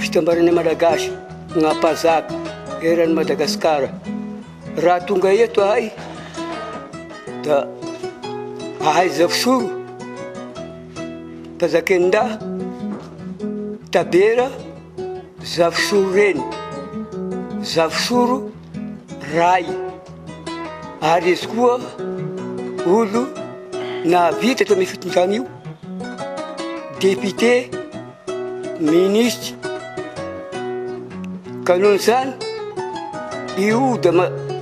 Fitambaranay Malagasy Mpahazaka eran'i Madagasikara raha tonga eto ahay da ahaiza fisoro Mpanjaken'Indah Tabera Zafisoro Reny Zafisoro Ray ary izy koa olo nahavita tamin'io fitondrana io Député Minisitra, ka noho izany io dia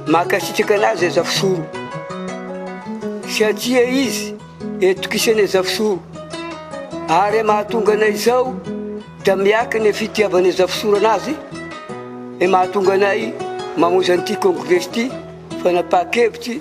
mankasitraka anazy i Azafisoro satria izy etokisan'i Azafisoro ary mahatonga anay izao dia miaky ny fitiavan'i Azafisoro anazy mahatonga anay mamonjy an'ity congrès ity fanapahan-kevitry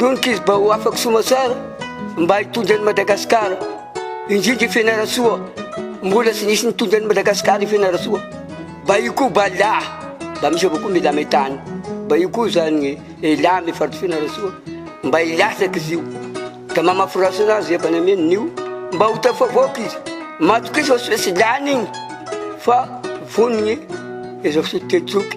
Lon'kizy ba ho afak somatsara mba hitondra an'i Madagascar indrindra i Fianarantsoa mbola tsy nisy nitondra an'i Madagascar i Fianarantsoa ba io koa ba la ba misy avao koa mila metany ba io koa zany ela amy faritry Fianarantsoa mba hilatsak izy io da mamafy rasina azy efa nameno nio mba ho tafavoaka izy matokisa tsy lany igny fa vonigny izao fotoan-teny zoky